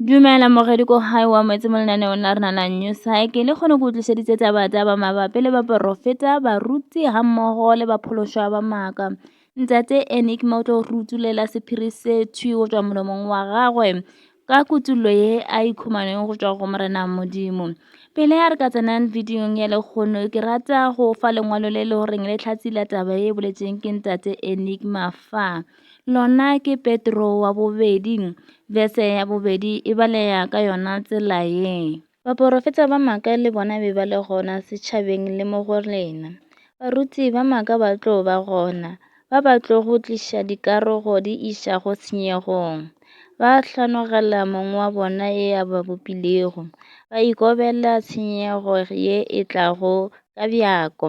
Dumela moredi ko gae wa moetse mo lenaneong la rena la New Cycle le kgone go tlišeditse taba taba mabapi le baporofeta baruti ga mmogo le baphološwa ba maaka ntate enigma o tlo rutulela sephiri se thwi go tswa molomong wa gagwe ka kutullo ye a ikhumaneng go tswa go morena modimo pele a re ka tsenang videong ya lekgono ke rata go fa lengwalo le le goreng le tlhatsi la taba e boletseng ke ntate enigma fa Lona ke Petro wa bobedi, verse ya bobedi e balega ka yona tsela ye. Baporofeta ba maka le bona be ba le gona setšhabeng le mo go rena. Baruti ba maka ba tlo ba gona, ba ba tlo go tliša dikarogo di iša go senyegong. Ba hlanogela Mong wa bona e a ba bopilego, ba ikobela tshenyego ye e tlago ka bjako.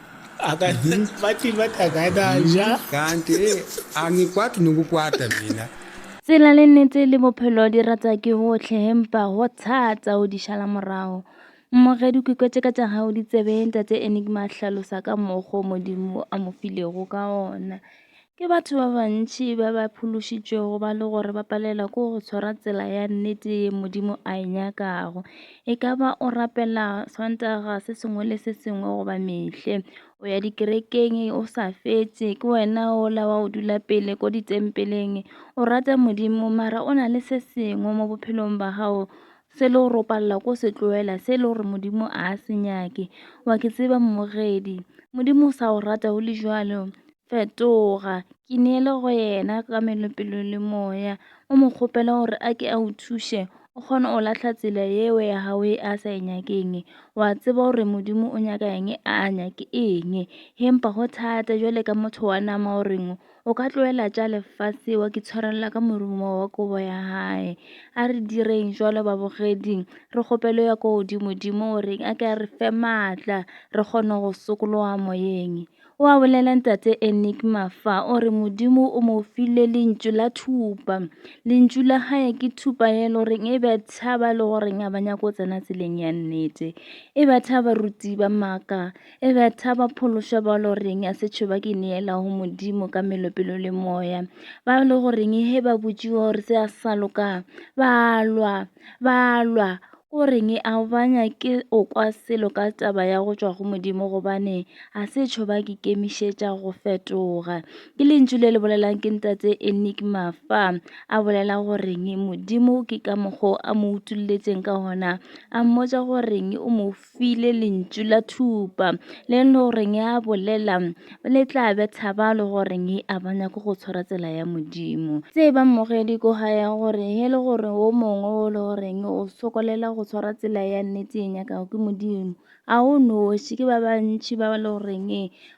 Kanti angikwati nokukwata mina. Tsela le nnete le bophelo di rata ke hohle empa ho thata ho di šala morago. Mmoge dikwekwe tše ka tša gago di tsebeng, Tate Enigma a hlalosa ka mokgo Modimo a mo filego ka ona. Ke batho ba bantši ba ba phološitšwego ba le gore ba palelwa ke go tshwara tsela ya nnete ye Modimo a e nyakago. E ka ba o rapela Sontaga se sengwe le se sengwe goba mehle, o ya dikerekeng o sa fetse, ke wena ola wa o dula pele ko ditempeleng, o rata Modimo mara o na le se sengwe mo bophelong ba gago se le gore o palela ko se tloela se le gore Modimo a se nyake. Wa ke tseba mmogedi, Modimo o sa o rata o le jwalo. Fetoga, ke neele go yena ka melopelo le moya, o mo kgopela gore a ke a o thuše, o kgone o lahla tsela yeo ya gago e a sa e nyakeng. Wa tseba gore Modimo o nyaka eng, a a nyake eng. He mpa go thata jwale ka motho wa nama o reng o ka tloela tša lefase wa ke tshwarelela ka morumo wa kobo ya gae. A re direng jwalo babogeding, re kgopelo ya kwa godimodimo o reng a ke a re fe maatla re kgone go sokologa moyeng. O a bolela ntate Enigma fa o re Modimo o mo file lentšu la thupa. Lentšu la gae ke thupa ye le goreng e betha ba le goreng a ba nyako go tsena tseleng ya nnete. E betha baruti ba maaka, e betha ba phološwa ba le goreng a se tšhoba ke neela go Modimo ka melopelo le moya. Ba le goreng he ba botšiwa gore se a sa loka, ba lwa, Ba lwa ko reng a ba nyake o kwa selo ka taba ya go tšwa go modimo gobane a se tšho ba ke kemišetša go fetoga ke lentšu le le bolelang ke ntatse enigma fa a bolela go reng modimo ke ka mokgwa a mo utulletseng ka gona a mmotsa go reng o mo file lentšu la thupa le no goreng ya bolela le tla betha ba le goreng a ba nyako go tshwara tsela ya modimo tse ba mmogedi ko ga ya gore he le gore o mongwe o le goreng o sokolela go tshwara tsela ya nnete e nyakago ke modimo a o noši ke ba bantšhi ba le goreng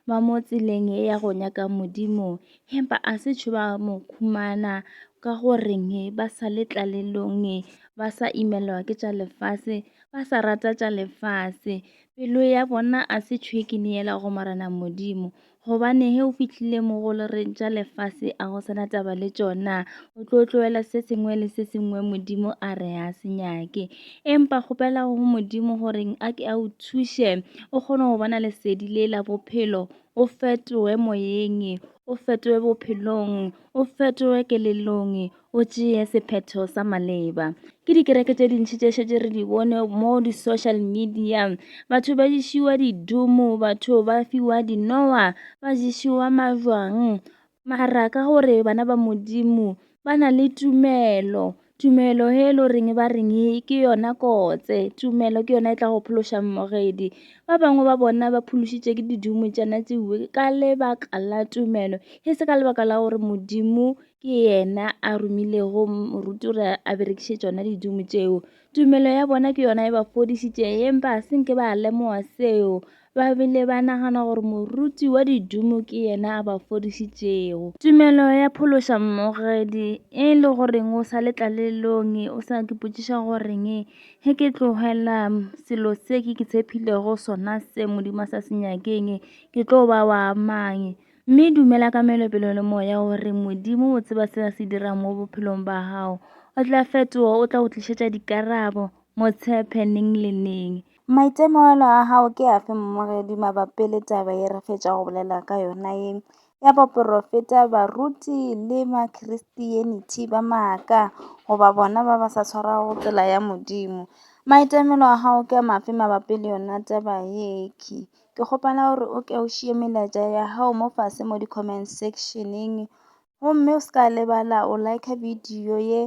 ba mo tseleng e ya go nyaka modimo hempa a se tšho ba mo khumana ka goreng ba sa le tlalelong ba sa imelwa ke tša lefase ba sa rata tša lefase pelo ya bona a se tšhwekene yela go morena modimo gobane he o fihlile mo go le reng tša lefase a go sena taba le tšona o tlo tloela se sengwe le se sengwe modimo a re a se nyake empa kgopela go modimo goreng a ke a o thuše o kgone go bona lesedi le la bophelo o fetoe moyeng o fetoe bophelong o fetoe kelelong O tšee sephetho sa maleba. Ke dikereke tše dintši tše šetše re di bone mo di-social media. Batho ba ješiwa didumo, batho ba fiwa dinowa, ba ješiwa majwang. Mara ka gore bana ba Modimo ba na le tumelo, tumelo he lo reng ba reng ke yona kotse tumelo ke yona e tla go phološang mogedi ba bangwe ba bona ba phološitše ke didumo tšana tsewe ka lebaka la tumelo he se ka lebaka la gore modimo ke yena a romilego moruti gore a berekiše tšona didumo tšeo tumelo ya bona ke yona e ba fodišitše empa a senke ba lemoga seo ba bile ba nagana gore moruti wa didumo ke yena a ba fodišitšego tumelo ya phološa mmogedi e le goreng o sa letlalelong o sa ke potšiša goreng ge ke tlogela selo se ke ke tshephilego sona se modimo sa se nyakeng ke tlo ba wa mang Mme dumela ka melopelo le moya gore Modimo o tseba se a se dirang mo bophelong ba gago. O tla fetoga, o tla go tlišetša dikarabo, motshephe neng le neng. Maitemogelo a gago ke afe mmogedi mabapi le taba ye re fetša go bolela ka yona ye ya baporofeta baruti le makhristenithi ba maaka goba bona ba ba sa tshwarago tsela ya modimo maitemelo a gago ke a mafe mabapi le yona taba yeke Ke kgopela gore o ke o šiye melaetša ya gago mo fase mo di-comment section-eng gomme o se ka lebala o like video ye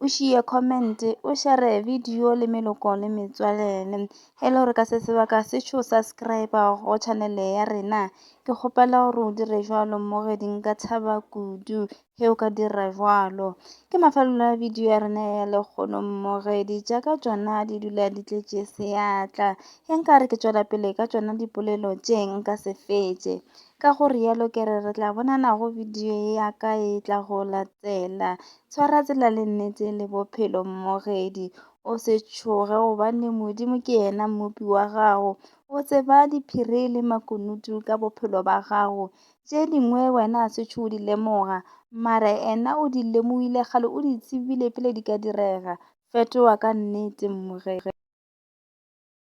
o šiye comment o share video le meloko le metswalele e le gore ka se sebaka se tšho subscribe go channel ya rena ke kgopela gore o dire jalo mo ge di nka thaba kudu ge o ka dira bjalo ke mafelelo a video ya rena ya lekgono mmogedi jaaka tšona di dula di tletše seatla ge nka re ke tšwela pele ka tšona dipolelo tše nka se fetše ka go rialo ke re re tla bonana go video ya ka e tla go latela tshwara tsela le nnete le bophelo mmogedi o se tšhoge gobane modimo ke yena mmopi wa gago o tseba diphiri le makunutu ka bophelo ba gago tše dingwe wena a setšho o di lemoga mara ena o di lemogile kgale o di tsebile pele di ka direga fetoga ka nnete mmogere